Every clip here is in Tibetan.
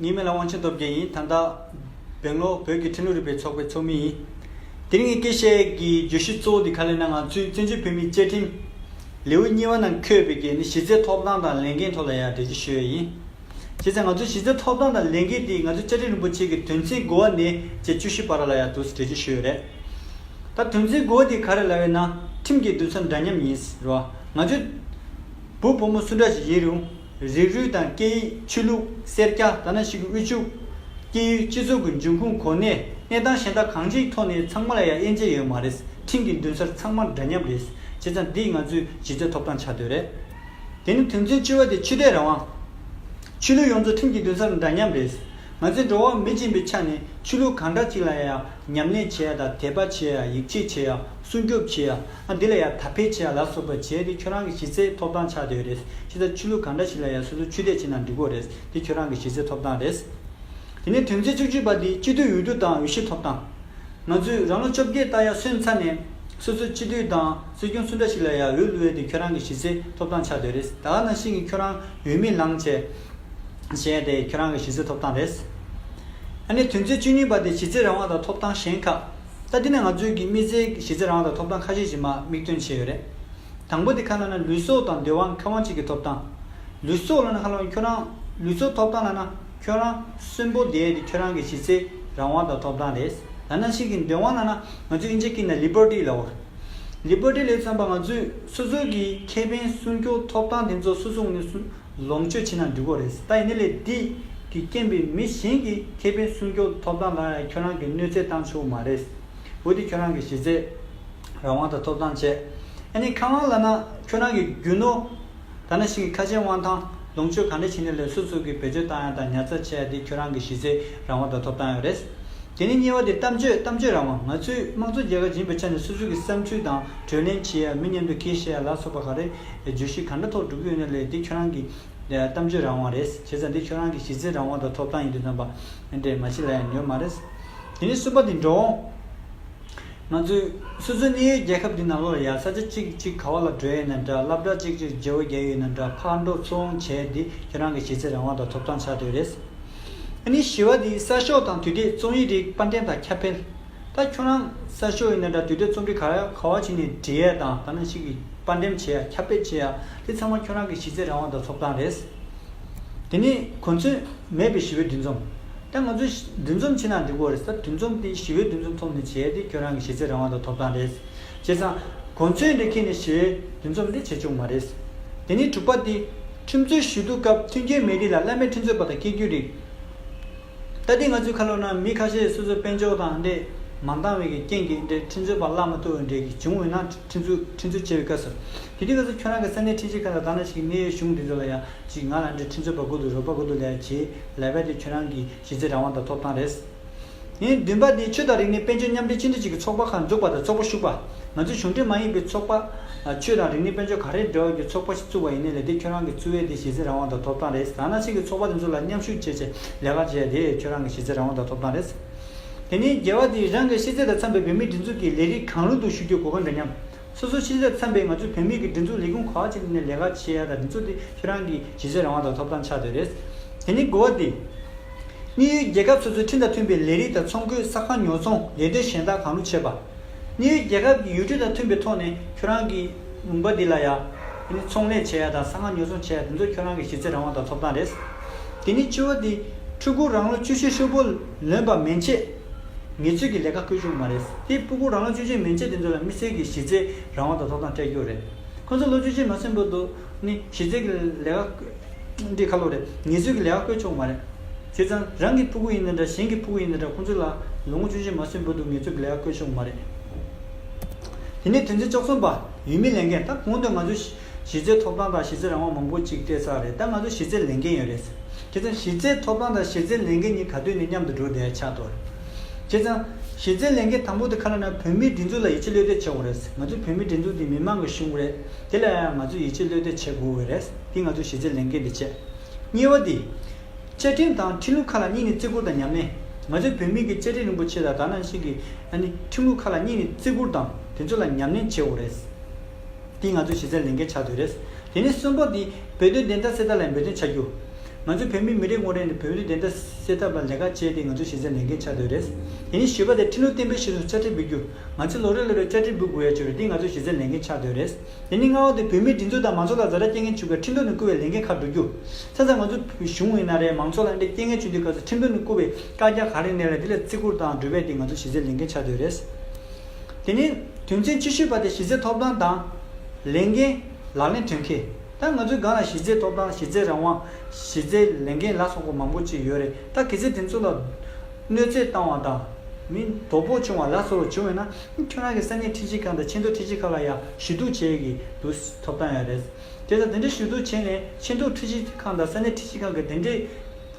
ངའི་མིང་ལ་དབང་ཆེན་སྟོབས་རྒྱལ་ཡིན་ད་ལྟ་སྦེང་ལོར་བོད་ཀྱི་ཁྲིམས་ལུགས་རིག་པའི་ཚོགས་པའི་ཚོགས་མི་ཡིན། དེ་རིང་གི་སྐད་བཤད་ཀྱི་བརྗོད་གཞི་གཙོ་བོ་དེ་ག་ལེ་ན་ང་ཚོའི་བཙན་བྱོལ་བོད་མིའི་བཅའ་ཁྲིམས། ལེའུ་གཉིས་པ་ནང་འཁོད་པའི་གལ་ནི་གཞི་རྩའི་ཐོབ་ཐང་དང་ལས་འགན་ཐོག་ལ་ཡང་འགྲེལ་བརྗོད་ཞུ་ཡ་ཡིན། བྱས་ཙང་ང་ཚོའི་གཞི་རྩའི་ཐོབ་ཐང་དང་ལས་འགན་དེ་ང་ཚོའི་བཅའ་ཁྲིམས་རིན་པོ་ཆེ་གི་དོན་ཚན་དགུ་བ་ནས་བཅས་བཅུ་བཞི་བར་ལ་ཡང་དུས་སུ་འགྲེལ་བརྗོད་ཞུ་ཡོད་རེད། ད་དོན་ཚན་དགུ་བ་དེ་ག་རེ་ལ་བས་ན་ཁྲིམས་ཀྱི་བསྡུར་ཚ་འདྲ་མཉམ་ཡིན་རུང། ང་ཚོའི་བུ་བུ་མོ་སུ་འདྲ་ཞིག་ཡིན་རུང། རིགས་རུས་དང་སྐད་ཡིག་ཆོས་ལུགས་སེར་སྐྱ་དར་ནག་ཞིག་གི་དབུལ་ཕྱུག། སྐྱེས་ཡུལ་སྤྱི་ཚོགས་ཀྱི་འབྱུང་ཁུངས་གོ་གནས་གནས་སྟངས་གཞན་དག་གང་ཅིའི་ཐོག་ནས་ཚང་མ་ལ་ཡང་དབྱེ་འབྱེད་ཡོད་མ་རེད་འཕྲིན་གྱི་མདུན་སར་ཚང་མ་འདྲ་མཉམ་རེད་བྱས་ཙང་འདི་ང་ཚོའི་གཞི་རྩའི་ཐོབ་ཐང་ཆགས་དོན་རེད། དེ་ནི་དོན་ཚན་བཅུ་བ་དེ་ཆོས་དད་རང་དབང། ཆོས་ལུགས་ཡོངས་རྫོགས་འཕྲིན་གྱི་མདུན་སར་འདྲ་མཉམ་རེད། ང་ཚོས་འགྲོ་བ་མི་སྦྱིན་པའི་ཆ་ནས་ཆོས་ལུགས་གང་འདྲ་ཞིག་ལ་ཡང་ཉམས་ལེན་བྱེད་ཡ་དང་དད་པ་བྱེད་ཡ་ཡིད་ཆེས་བྱེད་ཡ་སྲུང་སྐྱོབ་བྱེད་ཡ། ཨ་འདི་ལ་ཡང་དག་ཕལ་ཆེ་བ་ལ་སོགས་པ་བྱས་ཏེ་ཁྱོད་རང་གི་གཞི་རྩའི་ཐོབ་ཐང་ཆགས་སྡོད་རེད་ཕྱི་ཟླ་ཆུ་ལུག་གང་འདྲ་ཞིག་ལ་ཡང་སོ་སོ་ཆུ་དད་བྱེད་ན་འགྲིག་གོ་རེད་འདི་ཁྱོད་རང་གི་གཞི་རྩའི་ཐོབ་ཐང་རེད། དེ་ནས་དོན་ཚན་བཅུ་བཅུ་པ་འདི་སྤྱི་འཐུས་འོས་བསྡུ་དང་འོས་གཞི་ཐོབ་ཐང། ང་ཚོས་རང་ལོ་བཅོ་བརྒྱད་བཏགས་ཡ་སོན་ཚར་ནས། སོ་སོ་སྤྱི་འཐུས་དང་སྲིད་སྐྱོང་སུ་འདྲ་ཞིག་ལ་ཡང་འོས་བླུ་ཡ་འདི་ཁྱོད་རང་གི་གཞི་རྩའི་ཐོབ་ཐང་ཆགས་སྡོད་རེད་ད་ག་ན་ཤིང་གི་ཁྱོད་རང་འོས་མི་ལང་བྱས། བྱས་ཡ་དེ་ཁྱོད་རང་གི་གཞི་རྩའི་ཐོབ་ཐང་རེད། ཨ་ནས་དོན་ཚན་བཅུ་གཉིས་པ་འདི་གཞི་རྩའི་རང་དབང་དང་ཐོབ་ཐང་གཞན་ཁག། ད་དེ་ནས་ང་ཚོས་ཀྱི་དམིགས་བསལ་གྱི་གཞི་རྩའི་རང་དང་ཐོབ་ཐང་ཁ་ཤས་ཀྱི་མ་དམིགས་སྟོན་བྱས་ཡོད་རེད། དང་པོ་དེ་ཁ་ན་ན་ལུས་སྲོག་དང་འདོད་དབང་ཁེ་དབང་བཅས་ཀྱི་ཐོབ་ཐང། ལུས་སྲོག་ལ་ན་ཁ་ལོ་ཁྱོད་རང་ལུས་སྲོག་ཐོབ་ཐང་ལ་ན་ཁྱོད་རང་གསོན་པོ་བསྡད་དེ་ཁྱོད་རང་གི་གཞི་རྩའི་རང་དབང་དང་ཐོབ་ཐང་རེད། ལ་ན་ཞིག་གི་འདོད་དབང་ལ་ན་ང་ཚོས་ཨིན་ཇི་ཀི་ན Liberty ལ་བོར། Liberty ལས་མཚོན་པ་ང་ཚོས་སོ་སོའི་གྱི་ཁེ་ཕན་སྲུང་སྐྱོབ་ཐོབ་ཐང་དེ་ཚོ་སོ་སོ་ངོས་ནས་སྲུང། ལོངས་སྤྱོད་ཆེ་ན་འགྲིག་གོ་རེད་ད་ཡིན་ནི་ལས་འདི་གི་རྐྱེན་པས་མི་གཞན་གྱི་མཁས་པའི་སྲུང་སྐྱོབ་ཐོབ་ཐང་ལ་ཡང་ཁྱོད་རང་གི་གནོད་འཚེ་བཏང་ཆོག་མ་རེད། འོ་དེ་ཁྱོད་རང་གི་གཞི་རྩའི་རང་དབང་དང་ཐོབ་ཐང་བཅས་ཨ་ནི་ཁ་དབང་ལ་ན་ཁྱོད་རང་གི་རྒྱུ་ནོར་ད་ན་ཞིང་གི་ཁ་ཆེམས་དབང་ཐང་ལོངས་སྤྱོད་ག་འདྲ་བྱས་ནས་ལས་སོ་སོ་གི་བེད་སྤྱོད་བཏང་ཡ་དང་ཉར་ཚགས་བྱས་ཡ་དེ་ཁྱོད་རང་གི་གཞི་རྩའི་རང་དབང་དང་ཐོབ་ཐང་ཡོད་རེད། དེ་ནི་གཉིས་བ་དེ་གཏམ་བརྗོད་གཏམ་བརྗོད་རང་དབང་ང་ཚོའི་དམངས་གཙོ་རྒྱལ་ཁབ་ཡིན་པའི་ཆ་ནས་སོ་སོ་གི་བསམ་ཚུལ་དང་གྲོས་གླེང་བྱེད་ཡ་མི་མཉམ་དུ་ཁེལ་བཤད་ཡ་ལ་སོགས་པ་ག་རེ་བརྗོད་གཞི་ག་འདྲ་ཐོག་བསྒྲུབ་རྒྱུ་ཡིན་ན་ལས་འདི་ཁྱོད་རང་གི་གཏམ་བརྗོད་རང་དབང་རེད་བྱས་ཙང་འདི་ཁྱོད་རང་གི་གཞི་རྩའི་རང་དབང་དང་ཐོབ་ཐང་ཡིན་དུས་རྩམ་པ་འདྲེས་མ་བྱེད་ལ་ཡང་ཉོས་མ་རེད། དེ་ནས་གསུམ་པ་དེ་འདྲའོ། ང་ཚོའི་སོ་སོའི་གནས་ཡུལ་རྒྱལ་ཁབ་འདི་ནང་ལོར་ཡར་ས་ཆ་གཅིག་གཅིག་ག་བ་ལ་བགྲོད་ཡོད་ན་འདྲ་སླབ་གྲྭ་གཅིག་གཅིག་རྗེ་བོ་རྒྱལ་ཡོད་ན་འདྲ་ཕར་འགྲོ་ཚུར་འོང་བྱས་འདི་ཁྱོད་རང་གི་གཞི་རྩའི་རང་དབང་དང་ཐོབ་ཐང་ཆགས་དུས་རེད། ཨ་ནི་བཞི་བ་དེ་གསར་ཤོག་དང་དུས་དེབ་རྩོམ་ཡིག་རིགས་པར་འགྲེམས་དང་ཁྱབ་འཕེལ། ད་ཁྱོད་རང་གསར་ཤོག་ཡིན་ན་འདྲ་དུས་དེབ་རྩོམ་རིག་ག་རེ་ག་བ་བྱས་ནས་འབྲི་ཡས་དང་ག་ན་ཞིག་གི་དཔར་འགྲེམས་བྱེད་ཡ་ཁྱབ་སྤེལ་བྱེད་ཡ་དེ་ཚང་མ་ཁྱོད་རང་གི་གཞི་རྩའི་རང་དབང་དང་ཐོབ་ཐང་རེད། དེ་ནི་གོ་མཚོན་མེད་པའི་ཞི་བའི་འདུས་འཛོམས། ད་ང་ཚོས་འདུས་འཛོམས་བྱེད་ན་འགྲིག་གོ་རེད་ད་འདུས་འཛོམས་དེ་ཞི་བའི་འདུས་འཛོམས་ཐོག་ནས་བྱེད་ཡ་དེ་ཁྱོད་རང་གི་གཞི་རྩའི་རང་དབང་དང་ཐོབ་ཐང་རེད། བྱས་ཙང་གོ་མཚོན་རེ་ཁེལ་ནས་ཞི་བའི་འདུས་འཛོམས་དེ་བྱེད་ཆོག་མ་རེད། དེ་ནི་དྲུག་པ་དེ། ཁྲིམས་རྩོད་ཞུ་གཏུག་སྐབས་མཐུན་རྐྱེན་མེད་དུས་ལ་བླ་མས་ཁྲིམས་རྩོད་པ་དང་སྐྱེལ་རྒྱུ་རེད། ལྟ་དུས་ང་ཚོའི་ཁ་ལོ་ན་མི་ཁ་ཤས་སོ་སོའི་དཔེ་འཇོག་དང་འདྲེས་མ་འདང་བའི་གི་རྐྱེན་གྱིས་འདྲེས་འཕྲིན་འཚོལ་བ་བརླག་མ་ཐུབ་བའི་འདྲེས་ཀྱི་བྱུང་འོས་ན་འཕྲིན་འཚོལ་འཕྲིན་འཚོལ་བྱེད་པའི་སྐབས་སུ། དེ་དུས་ང་ཚོ་ཁྱོད་རང་གི་ས་གནས་འཕྲིན་ཆེ་ཁག་ལ་དག་ན་ཞིག་གི་གནས་ཡོད་གཞུང་འདི་ཚོ་ལ་ཡང་ཅིག་ང་ལ་འདྲེས་འཕྲིན་འཚོལ་བ་དགོས་འདུག་རོགས་པ་དགོས་འདུག་ལས་བྱེད་ལས་བལ་དེ་ཁྱོད་རང་གི་གཞི་རྩའི་རང་དབང་དང་ཐོབ་ཐང་རེད། བདུན་པ་དེ་ཆོས་དང་རིག་གནས་དཔལ་འབྱོར་མཉམ་འདྲེས་སྤྱི་འཐུས་གཅིག་གི་ཚོགས་པ་ཁག་འཛུགས་པ་དང་ཚོགས་པ་ཞུགས་པ། ང་ཚོའི་གཞུང་འབྲེལ་མ་ཡིན་པའི་ཚོགས་པ། ཆོས་དང་རིག་གནས་དཔལ་འབྱོར་ག་རེ་འབྲེལ་བ་རྒྱུ་ཚོགས་པ་ཞིག་བཙུགས་པ་ཡིན་ནའི་ལས་དེ་ཁྱོད་རང་གི་བཙུགས་ཡས་དེ་གཞི་རྩའི་རང་དབང་དང་ཐོབ་ཐང་རེད་ཟེར་ཡང་ན་ཕྱིས་ཀྱི་ཚོགས་པ་དེ་ཚོ་ལ་མཉམ་ཞུགས་བྱེད་ཆེད་ལས་ཀ་བྱེད་ཡས་དེ་ཁྱོད་རང་གི་གཞི་རྩའི་རང་དབང་དང་ཐོབ་ཐང་རེད་ཟེར། དེ་ནི་རྒྱལ་བ་དེས་རང་གི་ཤེས་ཚད་དང་འཚམས་པའི་བོད་མིའི་སྒྲིག་འཛུགས་ཀྱི་ལས་རིགས་གང་རུང་དུ་ཞུགས་རྒྱུ་གོ་གི་འདུག་སྙམ། སོ་སོའི་ཤེས་ཚད་དང་འཚམས་པའི་ང་ཚོའི་བོད་མིའི་གི་སྒྲིག་འཛུགས་ལས་ཁུངས་ག་བ་ཅིག་ནས་ལས་ཀ་བྱེད་ཡས་ད་དེ་ཚོ་དེ་ཁྱོད་རང་གི་གཞི་རྩའི་རང་དབང་དང་ཐོབ་ཐང་ཆགས་སྡོད་རེད། དེ་ནི་གོ་བ་དེ། དམིགས་ཡུལ་རྒྱལ་ཁབ་སོ་སོའི་ཁྲིམས་དང་མཐུན་པའི་ལས་རིགས་དང་ཚོང་འཁོས་ས་ཁང་ཉོ་ཚོང་ལས་དོན་གཞན་དག་གང་རུང་བྱེད་པ། གནས་ཡུལ་རྒྱལ་ཁབ་ཀྱི་ཡུལ་གྲུ་དང་མཐུན་པའི་ཐོག་ནས་ཁྱོད་རང་གིས་མུན་པ་འདི་ལ་ཡ། དེ་ནི་ཚོང་ལས་བྱེད་ཡ་དང་གསང་སྔགས་ཉོ་ཚོང་བྱེད་ཡ་དེ་ཚོ་ཁྱོད་རང་གི་གཞི་རྩའི་རང་དབང་དང་ཐོབ་ཐང་རེད། དེ་ནི་སྤྱི་བོ་དེ་ཕྲུ་གུ་རང་ལོ་བཅུ་ཆའི་ཧྲིལ་པོ་ལོན་པ་མན་ཆད། ངེད་ཚོས་ཀྱི་ལས་ཀ་ཁུར་རྒྱུ་མ་རེད། དེ་སྤུ་གུ་རང་ལོ་བཅུ་ཆའི་མན་ཆད་དེ་ཚོ་ལ་མི་སེར་གྱི་གཞི་རྩའི་རང་དབང་དང་ཐོབ་ཐང་སྤྲད་རྒྱུ་རེད། ཁོ་ཚོ་ལོ་བཅུ་ཆའི་མ་ཟིན་པོ་དུ་ནི་གཞི་རྩའི་གི་ལས་ཀ། འདི་ཁ་ལོ་རེད་ངེད་ཚོའི་གི་ལས་ཀ་བསྐོས་ཆོག་གི་མ་རེད། དེ་ཙང་རང་གི་ཕུ་གུ་ཡིན་ན་འདྲ་གཞན་གི་ཕུ་གུ་ཡིན་ན་འདྲ་ཁོང་ཚོ་ལ་ལོ་ངོ་བཅུ་བཞི་མ་སོན་བུ་འདུག་ངེད་ཚོའི་གི་ལས་ཀ་བསྐོས་ཆོག་གི་མ་རེད། དེ་ནས་དོན་ཚན་བཅུ་གསུམ་པ། ཡུལ་མི་ལས་འགན་ད་གོང་དུ་ང་ཚོའི་གཞི་རྩའི་ཐོབ་ཐང་དང་གཞི་རྩའི་རང་དབང་མང་པོ་གཅིག་སྤྲད་ཚར་རེད་ད་ང་ཚོའི་གཞི་རྩའི་ལས་འགན་ཡོད་རེད། དེ་ཙང་གཞི་རྩའི་ཐོབ་ཐང་དང་གཞི་རྩའི་ལས་འགན་གཉིས་ག་དུས་ནས་མཉམ་དུ་འགྲོ་བསྡད་ཆགས་ཐོག་རེད། དེ་ཙང་གཞི་རྩའི་ལས་འགན་དང་པོ་དེ་ཁ་ལོ་ན་བོད་མིའི་སྒྲིག་འཛུགས་ལ་ཡིད་ཆེས་བློས་གཏད་བྱེད་དགོས་རེད། ང་ཚོའི་བོད་མིའི་སྒྲིག་འཛུགས་འདི་མི་མང་གི་གཞུང་རེད། དེ་ལ་ཡང་ང་ཚོས་ཡིད་ཆེས་བློས་གཏད་བྱེད་དགོས་འོས་རེད། འདི་ང་ཚོའི་གཞི་རྩའི་ལས་འགན་དེ་བཅས། གཉིས་བ་འདི། བཅའ་ཁྲིམས་དང་ཁྲིམས་ལུགས་ཁ་ལ་གཉིས་ནི་བརྩི་བཀུར་དང་ཉམས་ལེན། ང་ཚོས་བོད་མིའི་གི་བཅའ་ཁྲིམས་རིན་པོ་ཆེ་དང་དག་སྣང་ཞིག་གི་ཨ་ནི་ཁྲིམས་ལུགས་ཁ་ལ་གཉིས་ནི་བརྩི་བཀུར་དང་དེ་ཚོ་ལ་ཉམས་ལེན་བྱེད་འོས་རེད། འདི་ང་ཚོའི་གཞི་རྩའི་ལས་འགན་ཆགས་འདོད་རེད། དེ་ནས་གསུམ་པ་འདི། བོད་དོན་བདེན་མཐའ་གསལ་ཐབས་ལ་འབད་བརྩོན་བྱ་རྒྱུ། ང་ཚོས་བོད་མིའི་མི་རེ་ངོ་རེ་ནས་བོད་དོན་བདེན་མཐའ་གསལ་ཐབས་ལ་ལས་ཀ་བྱེད་དེ་ང་ཚོའི་གཞི་རྩའི་ལས་འགན་ཆགས་འདོད་རེད། དེ་ནས་བཞི་པ་འདི་ཁྲིམས་ལུགས་བརྟན་པོའི་གཞི་ལ་ཆ་འཕྲིན་འབུལ་རྒྱུ། ང་ཚོས་ལོ་རེ་ལོ་རེར་བཅར་འདྲི་འབུལ་དགོས་ཡ་ཆེ་བས་འདི་ང་ཚོའི་གཞི་རྩའི་ལས་འགན་ཆགས་སྡོད་རེད། དེ་ནི་སྔ་བ་དེ་བོད་མིའི་སྒྲིག་འཛུགས་དང་མང་ཚོགས་ལ་བཟའ་ཟླ་སྐྱེ་ངན་བྱུག་པའི་ཁྲིམས་དོན་ནས་བསྐུར་བའི་ལས་འགན་ཁག་བསྒྲུབ་རྒྱུ། ཚན་རྩལ་ང་ཚོ་བོད་གཞུང་ཡིན་ན་རེད་མང་ཚོགས་ལ་འདྲེ་སྐྱེ་ངན་བྱུག་དུས་སྐབས་སུ་ཁྲིམས་དོན་ནས་བསྐུར་བའི་བཀག་རྒྱ་གང་རིགས་གནས་ལ་དེ་ལ་བརྩི་བཀུར་དང་སྒྲུབ་པའི་འདི་ང་ཚོའི་གཞི་རྩའི་ལས་འགན་ཆགས་སྡོད་རེད། དེ་ནི་དོན་ཚན་ཆེ་ཤོས་པ་དེ་གཞི་རྩའི་ཐོབ་ཐང་དང། ལས་འགན། ལག་ལེན་དོན་འཁེལ། ད་ང་ཚོའི་སྒང་ལ་གཞི་རྩའི་ཐོབ་ཐང་གཞི་རྩའི་རང་དབང། གཞི་རྩའི་ལས་འགན་ལ་སོགས་པ་མང་པོ་ཅིག་ཡོད་རེད་ད་གལ་སྲིད་དེ་ཚོ་ལ། གནོད་འཚེ་བཏང་བ་དང། མིང་དོ་པོ་བྱུང་བ་ལ་སོགས་བྱུང་བས་ན་ཁྱོད་རང་གི་ས་གནས་ཁྲི་ཆེན་ཁག་དང་ཆེ་མཐོ་ཁྲི་ཆེན་ཁག་ལ་ཡང་ཞུ་གཏུག་བྱེད་ཀྱི་འདུག་ཐོབ་ཐང་ཡང་རེད། དེ་ལྟར་དེ་འདྲའི་ཞུ་གཏུག་བྱས་ནས་ཆེ་མཐོ་ཁྲི་ཆེན་ཁག་དང་ས་གནས་ཁྲི་ཆེན་ཁག་གི་དེ་འདྲའི་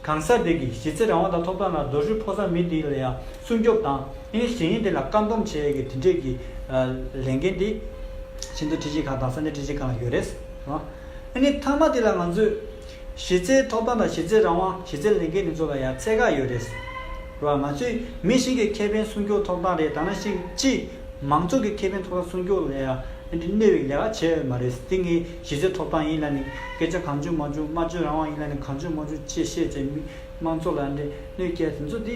གང་ཟག་དེ་གི་གཞི་རྩའི་རང་དབང་དང་ཐོབ་ཐང་ལ་རྡོ་ཧྲུལ་ཕོག་ས་མི་དེ་ལ་ཡང་སྲུང་སྐྱོབ་དང་ཨིན་གཞན་ཡིན་དེ་ལ་བཀག་སྡོམ་བྱེད་ཡ་གི་དེ་འདྲའི་གི་ལས་འགན་དེ་ཆེ་མཐོ་ཁྲི་ཆེན་ཁག་དང་ས་གནས་ཁྲི་ཆེན་ཁག་ལ་ཡོད་རེད། ཨིན་མཐའ་མ་དེ་ལ་ང་ཚོས། གཞི་རྩའི་ཐོབ་ཐང་དང་གཞི་རྩའི་རང་དབང་གཞི་རྩའི་ལས་འགན་དེ་ཚོ་ལ་ཡང་ཚད་བཀག་ཡོད་རེད། རེད་བ། ང་ཚོས་མི་ཞིག་གི་ཁེ་ཕན་སྲུང་སྐྱོང་ཐོབ་ཐང་རེད་ད་ནང་ཞིག་སྤྱི་མང་ཚོགས་ཀྱི་ཁེ་ཕན་ཐོབ་ཐང་སྲུང་སྐྱོང་ལ་ཡང་འདི་གནོད་བའི་ལས་ཀ་བྱེད་འོས་མ་རེད་དེ་ངའི་གཞི་རྩའི་ཐོབ་ཐང་ཡིན་ལ་ནི་སྐད་ཆ་གང་བྱུང་མ་བྱུང་སྨྲ་བརྗོད་རང་དབང་ཡིན་ལ་ནི་གང་བྱུང་མ་བྱུང་ཅེས་བཤད་ཚེ་མི་མང་ཚོགས་ལ་འདི་གནོད་སྐྱལ་དེ་ཚོ་དེ།